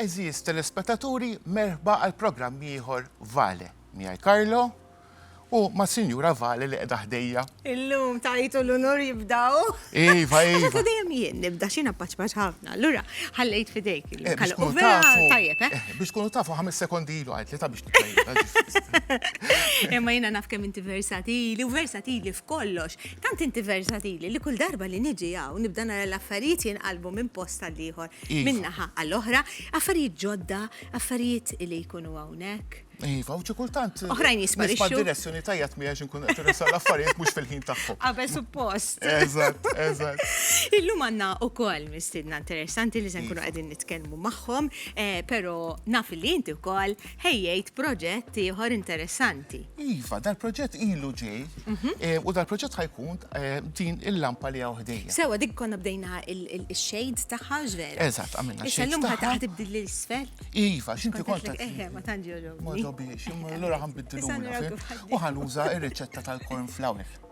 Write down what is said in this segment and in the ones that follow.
Eżiz telespetaturi, merħba għal programm ieħor Vale. Miegħi Karlo u ma' Sinjura Vale li qiegħda ħdejja. Illum tajtu l-unur jibdaw. Iva, iva. Għadda dejjem jien nibda xina paċpaċ ħafna. Lura, ħallejt fidejk eh, il-kallu. U vera tajjeb, eh? eh biex kunu tafu ħames sekondi ilu għajt li ta' biex t-tajjeb. Imma jina naf kem inti versatili u versatili f'kollox. Tant inti versatili li kull darba li niġi hawn nibda nara l-affarijiet jinqalbu minn post għal ieħor, iva. minn naħa għal oħra, affarijiet ġodda, affarijiet li jkunu hawnhekk. Iva, u kultant. Oħrajn jisparixxu. Ma direzzjoni tajja tmiex inkun qed irresa l-affarijiet mhux fil-ħin tagħhom. Qabel suppost. Eżatt, eżatt. Illum għandna ukoll mistiedna interessanti li se nkunu qegħdin nitkellmu magħhom, eh, però naf li inti wkoll ħejjejt proġett ieħor interessanti. Iva, dal-proġett ilu ġej mhm. eh, u dal-proġett ħajkun eh, din il-lampa li għaw ħdejja. Sewa, dik konna bdejna il-shades taħħa ġver. Eżat, għamilna xejn. Issa l-lum ħataħt ibdil l-isfel. Iva, xinti konta. Eħe, ma tanġi Ma ġobiex, l-ura ħan biddilu. U ħanuża il-reċetta tal-corn flour.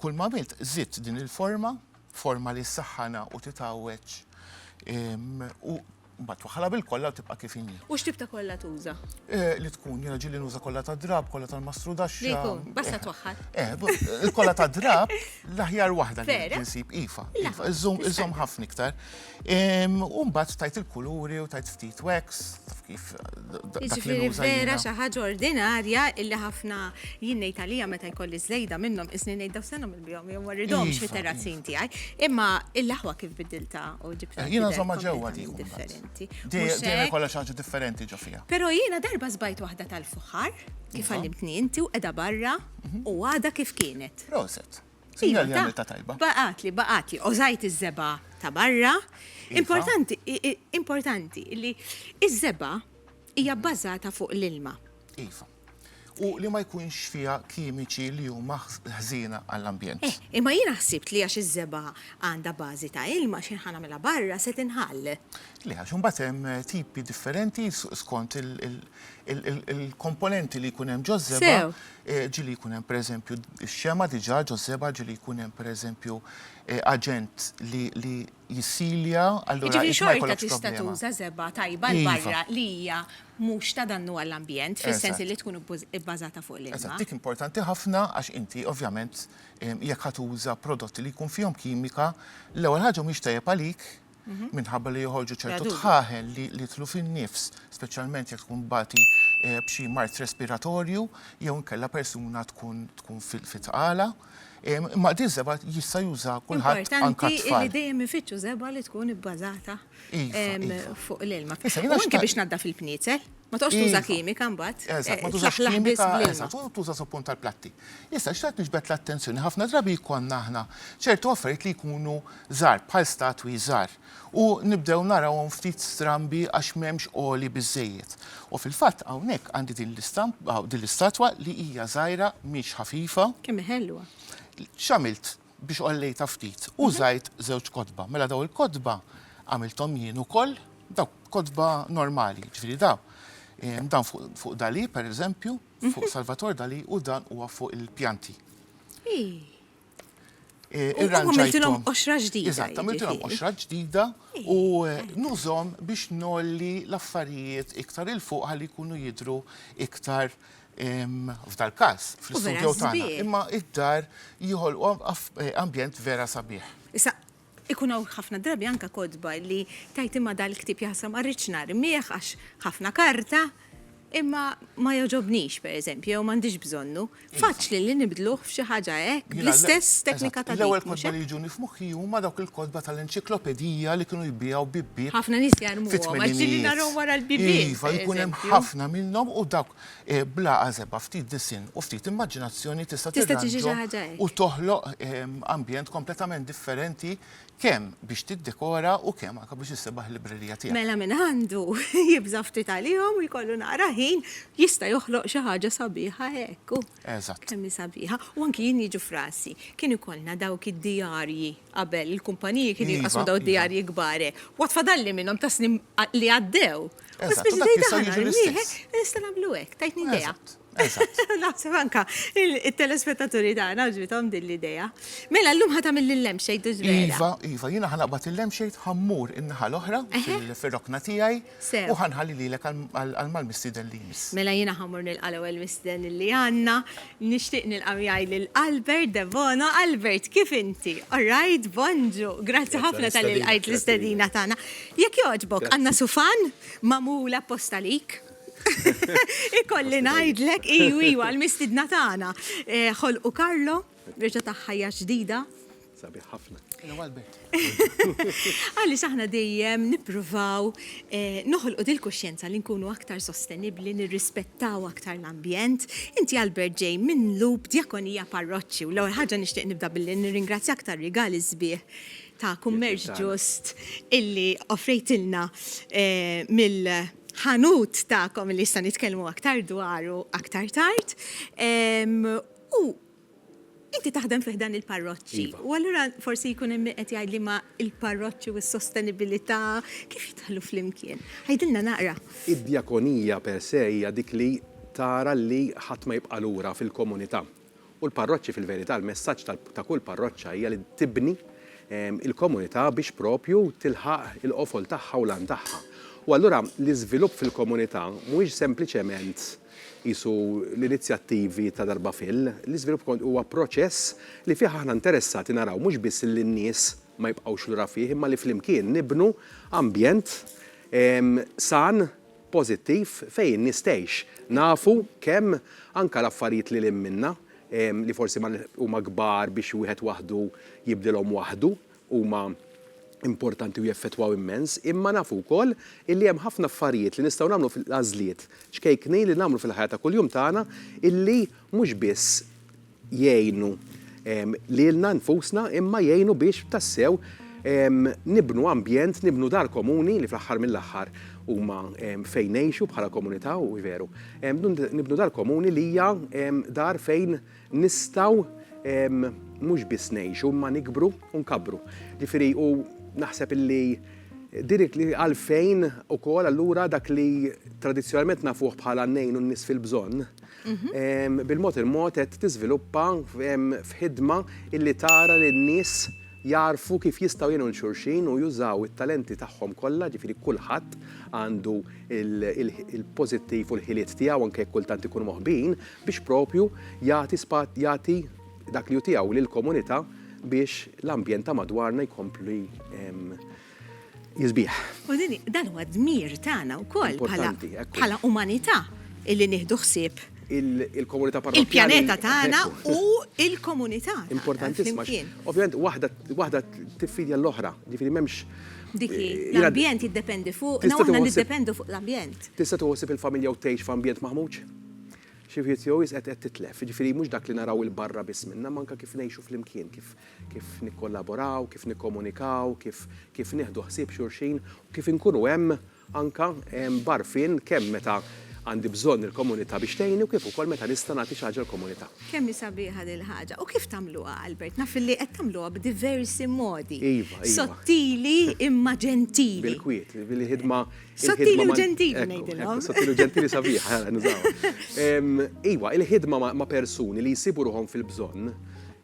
Kull m'għamilt żidt din il-forma, forma li ssaħħanha u titgħawweġ u mbagħad twaħħalha bil-kolla u tibqa' kif inhi. U x'tip ta' kolla tuża? Li tkun, jiena ġieli nuża kolla tad-drapp, kolla tal-mastrudaxxa. Li jkun, basta twaħħal. Il-kolla tad-drapp l-aħjar waħda li nsib, iva, iva, iżżomm ħafna iktar. U mbagħad tajt il-kuluri u tajt ftit wax, taf kif. Jiġifieri vera xi ħaġa ordinarja illi ħafna jien ngħid għalija meta jkolli żejda minnhom isni ngħid daw senhom il-bihom jew ma rridhomx iva, fit-terrazzin iva. tiegħi. Imma l-aħwa kif bidilta u ġibta. Eh, jiena żomma ġewwa dik. Differenti. Dejjem kollha xi ħaġa differenti ġo fiha. Però jiena darba żbajt waħda tal-fuħar kif iva. għallimtni inti u qiegħda barra mhm. u għada kif kienet. Proset. Sinjal jagħmel ta' tajba. Baqgħatli, baqgħatli, ożajt iż-żebgħa ta' barra. Iva. Importanti, importanti li iż-żebgħa hija mhm. bbażata fuq l-ilma. Iva. U li ma jkunx fiha kimiċi li huma ħżiena għall-ambjent. Eh, imma jiena ħsibt li għax iż-żebgħa għandha bażi ta' ilma xi ħanamilha barra se tinħall. Le għax imbagħad hemm eh, tipi differenti skont il-komponenti li jkun hemm ġoż-żebgħa. ġieli jkun hemm pereżempju x-xema diġà ġo seba' ġieli jkun hemm pereżempju aġent li jissilja allura int ma jkollokx problema. Jiġifieri xorta tista' tuża żebgħa tajba 'l barra li hija mhux ta' dannu għall-ambjent fis-sens illi tkun ibbażata fuq l-ilma. Eżatt, dik importanti ħafna għax inti ovvjament jekk ħa tuża prodotti li jkun fihom kimika l-ewwel ħaġa mhix tajjeb għalik minħabba li joħorġu ċertu tħaħel li jitlu fin-nifs, speċjalment jekk tkun bati eh, b'xi mart respiratorju jew inkella persuna tkun tkun fit-tqala. Imma di żeba jista' juża kulħadd anke tfal. Li dejjem ifittxu żeba li tkun ibbażata iva, iva. fuq l-ilma. Anke biex nadda fil-pniezel. Ma toqgħodx tuża iva. kimika mbagħad. Eżatt, eh, ma tużax kimika, eżatt, u tuża suppun tal-platti. Issa x'tat nixbet l-attenzjoni ħafna drabi jkollna aħna ċertu affarijiet li jkunu żgħar bħal statwi żgħar u nibdew narawhom ftit strambi għax m'hemmx għoli biżejjed. U fil-fatt hawnhekk għandi din l-istampa din l-istatwa li hija żgħira mhix ħafifa. Kemm ħelwa. X'għamilt? biex qollejtha ftit. Mhm. Użajt żewġ kotba. Mela daw il-kotba għamilthom jien ukoll, daw kotba normali, ġifieri daw. Ehm, dan fuq Dali, per eżempju, mhm. fuq Salvator Dali u dan huwa fuq il-pjanti. Eh, irranġajtilhom qoxra ġdida. Eżatt, għamiltilhom qoxra ġdida u eh, nużhom biex nolli l-affarijiet iktar il fuq ħalli jkunu jidru iktar f'dal-każ, fl-istudjow tagħna, imma id-dar jħolqu ambjent vera sabiħ. Issa, ikun hawn ħafna drabi anke kotba li tgħid imma dal-ktieb jaħsra ma rridx narmih għax ħafna karta, imma ma jogħġobnix, pereżempju, jew m'għandix bżonnu. Faċli li nibdluh f'xi ħaġa hekk, bl-istess teknika ta' dik. L-ewwel kotba li jiġuni f'moħħi huma dawk il-kotba tal-enċiklopedija li kienu jbigħu bibbiet. Ħafna nies jarmuhom għax ġieli narhom wara l-bibien. Iva, jkun hemm ħafna minnhom u dawk Bla għażeba, ftit disinn u ftit immaġinazzjoni tista' tirranġhom u toħloq ambjent kompletament differenti kemm biex tiddekora u kemm anke biex issebaħ il-librerija tiegħek. Mela min għandu jibża' ftit għalihom u jkollu naqra ħin jista' joħloq xi ħaġa sabiħa hekk. Eżatt. Kemm hi sabiħa. U anki jien jiġu f'rasi. Kien ikollna dawk id-dijarji qabel, il-kumpaniji kienu jinqasmu dawn id-dijarji kbar hekk. U għad fadalli minnhom ta' snin li għaddew. Eżatt, u dak jista' jiġi l-istess. Nista' nagħmlu hekk, tajtni idea. Eżatt. Naħseb anke it-telespettaturi tagħna għaġbithom din l-idea. Mela llum ħa tagħmel il-lampshade u ż-żbela. Iva, iva, jiena ħa naqbad il-lampshade, ħa mmur in-naħa l-oħra fir-rokna tiegħi. Sew. U ħa nħalli lilek għall-mal-mistieden li jmiss. Mela jiena ħa mmur nilqa' l-ewwel mistieden li għandna. Nixtieq nilqa' miegħi lil Albert Debono. Albert, kif inti? All right? Bonġu! Grazzi ħafna talli lqajt l-istedina tagħna. Jekk jogħġbok, għandna sufan magħmul apposta għalik. Ikolli ngħidlek, iju, iju, għall-mistiedna tagħna. Ħolqu Carlo. Reġa' tah ħajja ġdida. Sabiħ ħafna. Għaliex aħna dejjem nippruvaw eh, noħolqu dil-kuxjenza li nkunu aktar sostenibbli, nirrispettaw aktar l-ambjent. Inti Albert ġej minn Lub Djakonija Parroċċi u l-ewwel ħaġa nixtieq nibda billi nirringrazzjak tar-rigali sbieħ ta' kummerċ ġust illi offrejtilna eh, mill ħanut ta'kom li jista' nitkellmu aktar dwaru aktar tard. U inti taħdem fi ħdan il-parroċċi. Iva. U allura forsi jkun hemm min qed jgħid li ma il-parroċċi u s-sostenibilità kif jidħlu flimkien? Għidilna naqra. Id-djakonija per se hija dik li tara li ħadd ma jibqa' lura fil-komunità. U l-parroċċi fil-verità, l-messaġġ ta' kull parroċċa hija li tibni il-komunità biex proprju tilħaq il-qofol tagħha u l-għan tagħha. U allura l-iżvilupp fil-komunità mhuwiex sempliċement Qisu l-inizjattivi ta' darba fil. L-iżvilupp kont huwa proċess li fih aħna interessati naraw mhux biss li n-nies ma jibqgħux lura fih imma li flimkien nibnu ambjent san, pożittiv fejn in-nies tgħix. Nafu kemm anke l-affarijiet lil hinn minna li forsi ma huma kbar biex wieħed waħdu jibdilhom waħdu, huma importanti u jeffettwaw immens, imma nafu wkoll illi hemm ħafna affarijiet li nistgħu nagħmlu fil-għażliet ċkejknin li nagħmlu fil-ħajja ta' kuljum tagħna illi mhux biss jgħinu lilna nfusna imma jgħinu biex tassew nibnu ambjent, nibnu dar komuni li fl-aħħar mill-aħħar huma fejn ngħixu bħala komunità u veru nibnu dar komuni li hija dar fejn Nistgħu mhux biss ngħixu imma nikbru u nkabbru. Ġifieri u naħseb illi din għalfejn ukoll allura dak li tradizzjonalment nafuh bħala ngħinu n-nies fil-bżonn, mhm. bil-mod il-mod qed tiżviluppa f'ħidma illi tara li n-nies jarfu kif jistgħu jenu l-xurxin u jużaw it-talenti tagħhom kollha, ġifieri kulħadd għandu il-pożittiv u l-ħiliet tiegħu anke kultant ikunu moħbin, biex proprju jagħti jagħti dak li hu tiegħu lill-komunità biex l-ambjent ta' madwarna jkompli jiżbieħ. U din dan huwa dmir tagħna wkoll bħala umanità illi nieħdu ħsieb il-komunità parrokkjali. Il-pjaneta tagħna u il-komunità. Importantissima. Ovvjament waħda tiffidja l-oħra, ġifieri m'hemmx Diki, eh, l-ambjent jiddependi fuq, niddependu fuq l-ambjent. Tista' tuħsib il-familja u tgħix f'ambjent maħmuġ? Xi wħid jew iżgħet qed titlef, jiġifieri mhux dak li naraw 'il barra biss minnha, ma anke kif ngħixu flimkien, kif kif nikkollaboraw, kif nikkomunikaw, kif kif nieħdu ħsieb xulxin u kif inkunu hemm anke b'għarfien kemm meta għandi bżonn il-komunità biex tgħinni u kif ukoll meta nista' nagħti xi ħaġa l-komunità. Kemm hi sabiħa dil-ħaġa. U kif tagħmluha, Albert? Naf illi qed tagħmluha b'diversi modi. Iva, iva. Sottili imma ġentili. Bil-kwiet, bil-ħidma Sottili u ġentili ngħidilhom. Sottili u ġentili sabiħ, ħara nużaw. Iwa, il-ħidma ma' persuni li jsibu ruħhom fil-bżonn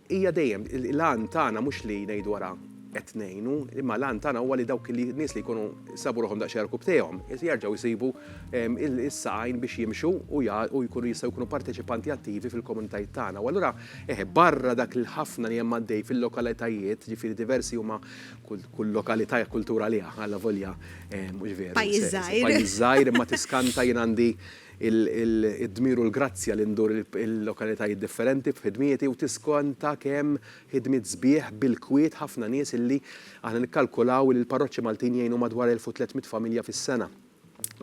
hija dejjem l-għan tagħna mhux li ngħidu wara qed ngħinu, imma l-għan tagħna huwa li dawk li nies li jkunu sabu ruħhom daqsxejn rkub tejhom, jerġgħu jsibu is-saqajn biex jimxu u jkunu jistgħu jkunu parteċipanti attivi fil-komunitajiet tagħna. U allura eħe barra dak il-ħafna li hemm għaddej fil-lokalitajiet, ġifieri diversi huma Kull lokalità hija kultura għaliha, allavolja mhux veru. Pajjiż żgħir. Pajjiż żgħir imma tiskanta jien għandi d-dmir u l-grazzja li ndur il-lokalitajiet differenti b'ħidmieti u tiskanta kemm ħidmiet sbieħ bil-kwiet ħafna nies illi aħna nikkalkulaw li l-parroċċi Maltin jgħinu madwar 1,300 familja fis-sena.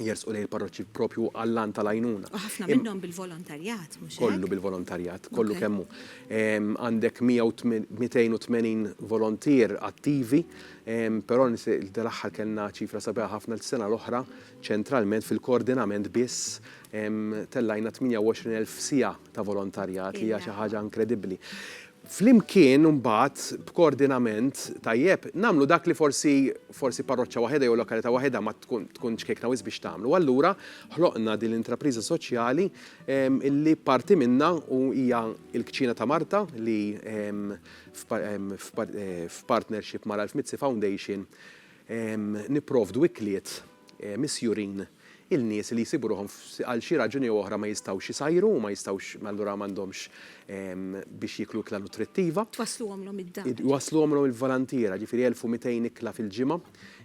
jersqu lejn il-parroċċi proprju għall-għan tal-għajnuna. U ħafna minnhom bil-volontarjat, mhux Kollu bil-volontarjat, kollu kemm hu. Għandek 280 volontier attivi, però dal-aħħar kellna ċifra sabiħa ħafna l-sena l-oħra ċentralment fil-koordinament biss tellajna 28,000 siegħa ta' volontarjat li hija xi ħaġa inkredibbli. flimkien imbagħad b'koordinament tajjeb nagħmlu dak li forsi forsi parroċċa waħedha jew lokalità waħedha ma tkun tkun ċkejkna wisq biex tagħmlu. U allura ħloqna din l-intrapriża soċjali li parti minnha u hija l-Kċina ta' Marta li f'partnership ma' Ralph Mizzi Foundation nipprovdu ikliet misjurin il-nies li jsibu ruħhom għal xi raġuni jew oħra ma jistgħux isajru u ma jistgħux allura m'għandhomx biex jieklu ikla nutrittiva. Twassluhomlhom id-dar. Iwassluhomlhom il-volontiera, jiġifieri 1,200 ikla fil-ġimgħa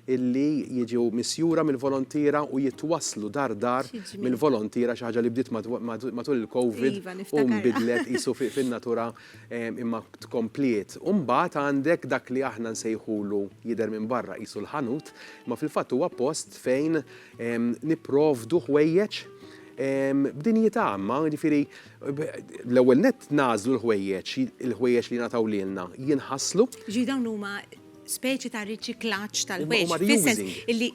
illi jiġu misjura mill-volontiera u jitwasslu dar dar mill-volontiera, xi ħaġa li bdiet matul il-Covid u nbidlet qisu fin-natura imma tkompliet, u mbagħad għandek dak li aħna nsejħulu jidher minn barra qisu l-ħanut, imma fil-fatt huwa post fejn nipprovdu ħwejjeġ b'dinjità, imma jiġifieri l-ewwel nett nagħżlu l-ħwejjeġ, il-ħwejjeġ li jingħataw lilna jinħaslu. Jiġifieri dawn huma speċi ta' riċiklaġġ tal-ħwejjeġ, fis-sens illi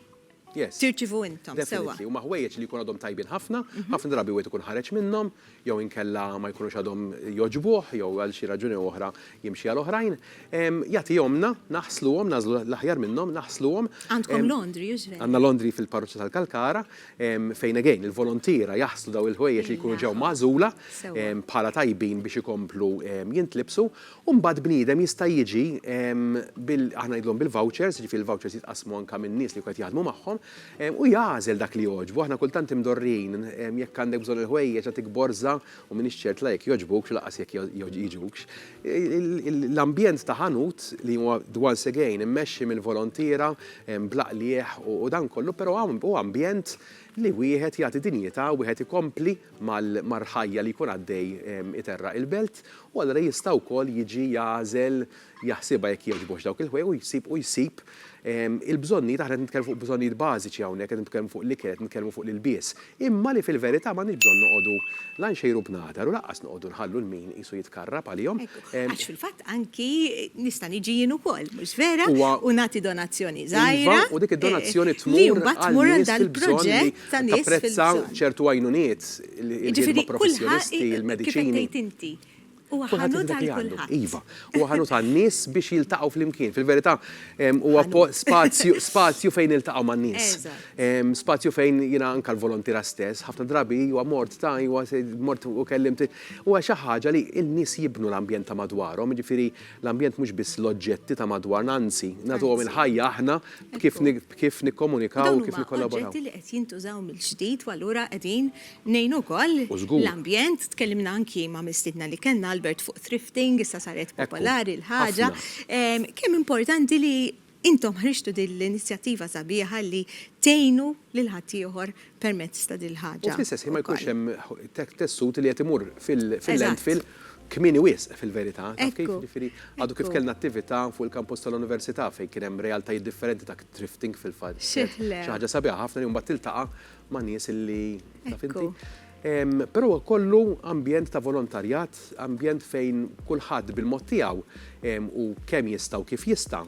tirċievu intom. Yes. Definitely. Huma ħwejjeġ li jkunu għadhom tajbin ħafna, ħafna drabi wieħed ikun ħareġ minnhom, jew inkella ma jkunux għadhom jogħġbuh, jew għal xi raġuni jew oħra jimxi għal oħrajn. Jagħtihomlna, naħsluhom, nagħżlu l-aħjar minnhom, naħsluhom. Għandkom laundry usually? Għandna laundry fil-parroċċa tal-Kalkara, fejn again il-volontiera jaħslu dawn il-ħwejjeġ li jkunu ġew magħżula bħala tajbin biex ikomplu jintlibsu. U mbagħad bniedem jista' jiġi bil, aħna ngħidulhom bil-vouchers, jiġifieri l-vouchers jitqassmu anke min-nies li jkun qed jaħdmu magħhom, u jagħżel dak li jogħġbu. Aħna kultant imdorrijin, jekk għandek bżonn il-ħwejjeġ għatik borża u m'iniex ċert la jekk jogħġbukx u lanqas jekk jgħiġukx. L-ambjent ta' ħanut li huwa, once again, immexxi mill-volontiera bla qligħ u dan kollu, però huwa ambjent li wieħed jagħti dinjità u wieħed ikompli, mal-ħajja li jkun għaddej iterraq il-belt u allura jista' wkoll jiġi jagħżel jaħsibha jekk jogħġbux dawk il-ħwejjeġ u jsib u jsib il-bżonnijiet, aħna qed nitkellmu fuq bżonnijiet bażiċi hawnhekk, qed nitkellmu fuq l-ikel, qed nitkellmu fuq l-ilbies, imma li fil-verità m'għandniex bżonn noqogħdu la nxejru b'nadar u lanqas noqogħdu nħallu l-min qisu jitkarrab għalihom. Għax fil-fatt anki nista' niġi jien ukoll, mhux vera, u nagħti donazzjoni żgħira li mbagħad tmur għal dal-proġett. ta' nies fil-bżonn. Tapprezza ċertu għajnuniet, il-ħidma professjonisti, il-mediċini. Jiġifieri kulħadd, kif qed tgħid inti, huwa ħanut għal kulħadd. Iva, huwa ħanut għan-nies biex jiltaqgħu flimkien. Fil-verità, huwa spazju fejn niltaqgħu man-nies. Spazju fejn jiena anke l-volontira stess, ħafna drabi huwa mort ta' iwa mort u kellimt, huwa xi ħaġa li n-nies jibnu l-ambjent ta' madwarhom, jiġifieri l-ambjent mhux biss l-oġġetti ta' madwarna, anzi, nagħtuhom il-ħajja aħna b'kif kif nikkomunikaw u kif nikkollaboraw. Dawn huma oġġetti li qed jintużaw mill-ġdid u allura qegħdin ngħinu wkoll l-ambjent. Tkellimna anki ma' mistiedna li kellna, Albert, fuq thrifting, issa saret popolari l-ħaġa. Kemm importanti li intom ħriġtu din l-inizjattiva sabiħa li tgħinu lil ħaddieħor permezz ta' din il-ħaġa. U fl-istess ħin ma jkunx hemm tessut li qed imur fil-landfill Kmieni wisq, fil-verità, taf kif, jiġifieri għadu kif kellna attività fuq il-kampus tal-Università fejn kien hemm realtajiet differenti ta' thrifting fil-fatt. Xi ħaġa sabiħa ħafna li mbagħad tiltaqa' ma' nies li, taf inti. Però huwa kollu ambjent ta' volontarjat, ambjent fejn kulħadd bil-mod tiegħu u kemm jista' u kif jista'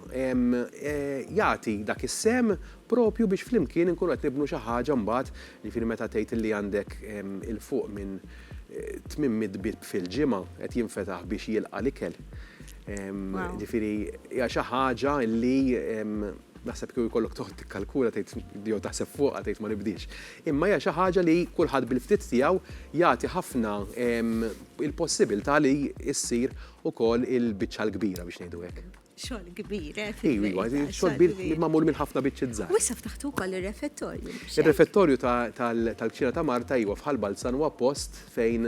jagħti dak is-sehem proprju biex flimkien inkunu qed nibnu xi ħaġa mbagħad, jiġifieri meta tgħid li għandek 'il fuq minn 800 bieb fil-ġimgħa qed jinfetaħ biex jilqa' l-ikel. Ġifieri hija xi ħaġa li naħseb kieku jkollok toqgħod tikkalkula tgħid jew taħseb fuqha tgħid ma nibdiex. Imma hija xi ħaġa li kulħadd bil-ftit tiegħu jagħti ħafna il-possibilità li ssir ukoll il-biċċa l-kbira biex ngħidu hekk. Xogħol kbir, eh? Iva, iva, xogħol kbir li magħmul minn ħafna biċċiet żgħar. Wissa ftaħtu wkoll ir-refettorju. Ir-refettorju tal-kċina ta' Marta iva fħal Balzan huwa post fejn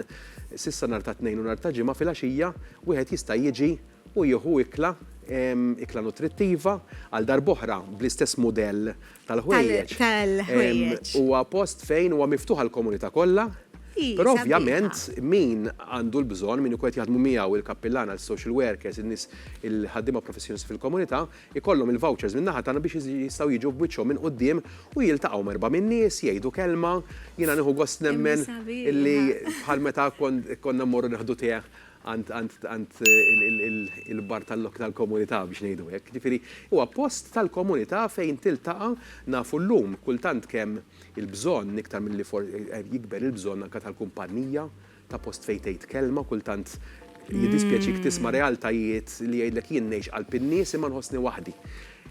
sissa nar ta' tnejn u nar ta' ġimgħa fil-għaxija wieħed jista' jiġi u jieħu ikla ikla nutrittiva għal darboħra bl-istess mudell tal-ħwejjeġ. Tal-ħwejjeġ. Huwa post fejn huwa miftuħ għall-komunità kollha. Però ovvjament min għandu l-bżonn, min ikun jaħdmu miegħu il-kappillana, il-social workers, in-nies il-ħaddiema professjonisti fil-komunità, ikollhom il-vouchers minn naħa tagħna biex jistgħu jiġu b'wiċċhom minn quddiem u jiltaqgħu merba' min-nies, jgħidu kelma, jiena nieħu gost nemmen li bħal meta konna mmorru neħdu teh għand il-bar tal-komunità biex ngħidu hekk. Jiġifieri huwa post tal-komunità fejn tiltaqa', nafu llum kultant kemm il-bżonn iktar milli jikber il-bżonn anke tal-kumpannija, ta' post fejn tgħid kelma, kultant jiddispjaċik tisma' realtajiet li jgħidlek jien ngħix qalb in-nies imma nħossni waħdi.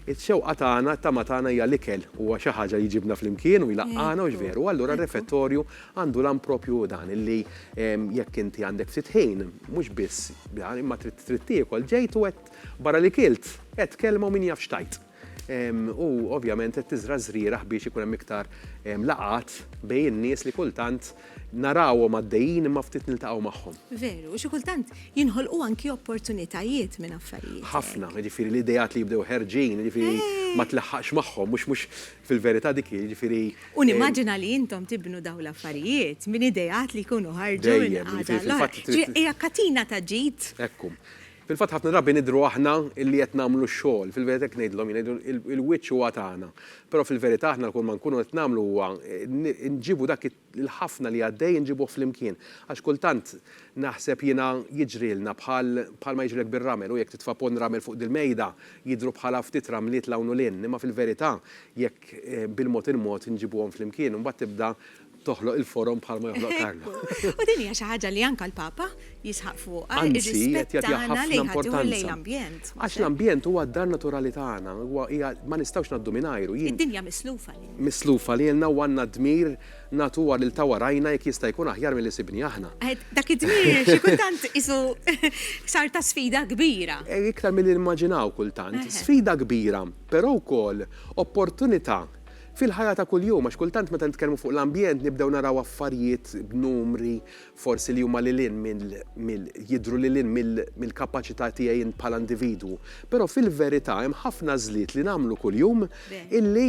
Ix-xewqa tagħna, t-tama tagħna hija l-ikel. Huwa xi ħaġa li jġibna flimkien u jlaqqagħna, hux veru? U allura r-refettorju għandu l-għan proprju hu dan, li jekk inti għandek ftit ħin, mhux biss dan, imma trid trid tiekol, ġejt u qed barra li kilt, għedt kelma u min jaf x'tajt. U ovvjament qed tiżra' ż-żrieragħ biex ikun hemm iktar laqgħat bejn in-nies li kultant, Narawhom għaddejjin imma ftit niltaqgħu magħhom. Veru, u xi kultant jinħolqu anki opportunitajiet minn affarijiet hekk. Ħafna, jiġifieri l-ideat li jibdew ħerġin, jiġifieri ma tlaħħaqx magħhom, mhux mhux fil-verità dik hi, jiġifieri. U nimmaġina li intom tibnu dawn l-affarijiet minn ideat li jkunu ħarġu minn qagħda għall-oħra. Dejjem, jiġifieri fil-fatt trid. Hija katina ta' ġid. Hekk hu. Fil-fatt ħafna drabi nidhru aħna li qed nagħmlu x-xogħol. Fil-verità hekk ngħidilhom jien, ngħidu il-wiċċ huwa tagħna. Però fil-verità aħna kull ma nkunu qed nagħmlu huwa nġibu dak il-ħafna li għaddej inġibuh flimkien. Għax kultant naħseb jiena jiġrilna bħal bħalma jiġrilek bir-ramel u jekk titfa' ponn ramel fuq dil-mejda jidhru bħala ftit ramliet 'l hawn u 'l hinn. Imma fil-verità jekk bil-mod il-mod inġibuhom flimkien imbagħad tibda toħloq il-forom bħal ma joħloq Carlo. U din hija xi ħaġa li anke l-Papa jisħaq fuqha, ir-rispett tagħna lejn ħaddieħor lejn l-ambjent. Għax l-ambjent huwa d-dar naturali tagħna, huwa hija ma nistgħux ngħaddu mingħajru. Id-dinja mislufa lilna. Mislufa lilna u għandna d-dmir nagħtuha lil ta' warajna jekk jista' jkun aħjar milli sibni aħna. Dak id-dmir xi kultant qisu sar ta' sfida kbira. Iktar milli nimmaġinaw kultant. Sfida kbira, però wkoll opportunità Fil-ħajja ta' kuljum, għax kultant meta nitkellmu fuq l-ambjent nibdew naraw affarijiet b'numri forsi li huma lil hinn mill, jidhru lil hinn mill-kapaċità tiegħi jien bħala individwu. Però fil-verità hemm ħafna għażliet li nagħmlu kuljum illi,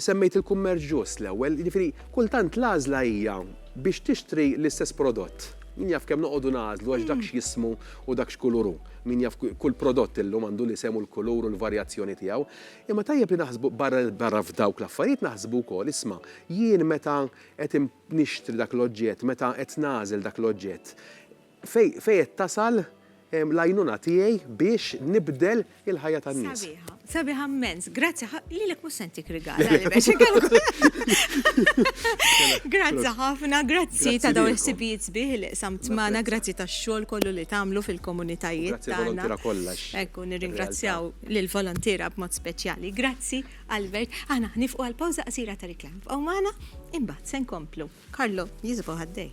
semmejt il-kummerċ ġust l-ewwel, jiġifieri kultant l-għażla hija biex tixtri l-istess prodott. Min jaf kemm noqogħdu nagħżlu għax dak x'jismu u dak x'kulur hu. Min jaf kull prodott illum għandu l-isem u l-kulur u l-varjazzjoni tiegħu. Imma tajjeb li naħsbu barra barra f'dawk l-affarijiet naħsbu wkoll, isma', jien meta qed in nixtri dak l-oġġett, meta qed nagħżel dak l-oġġett, fej fejn qed tasal l-għajnuna tiegħi biex nibdel il-ħajja tan-nies? Sabiħa, sabiħa mmens. Grazzi ħa, lilek mhux se ntik rigal għaliex biex inkellmu. Grazzi ħafna, grazzi ta' dawn il-ħsibijiet sbieħ li qsamt magħna, grazzi tax-xogħol kollu li tagħmlu fil-komunitajiet Grazzi tagħna. l-volontiera kollha. Ekku, nirringrazzjaw lill-volontiera b'mod speċjali. Grazzi, Albert. Aħna ħnifqu għal pawża qasira ta' riklam. Bqgħu magħna, imbagħad se nkomplu. Karlo, jiżbu ħaddej.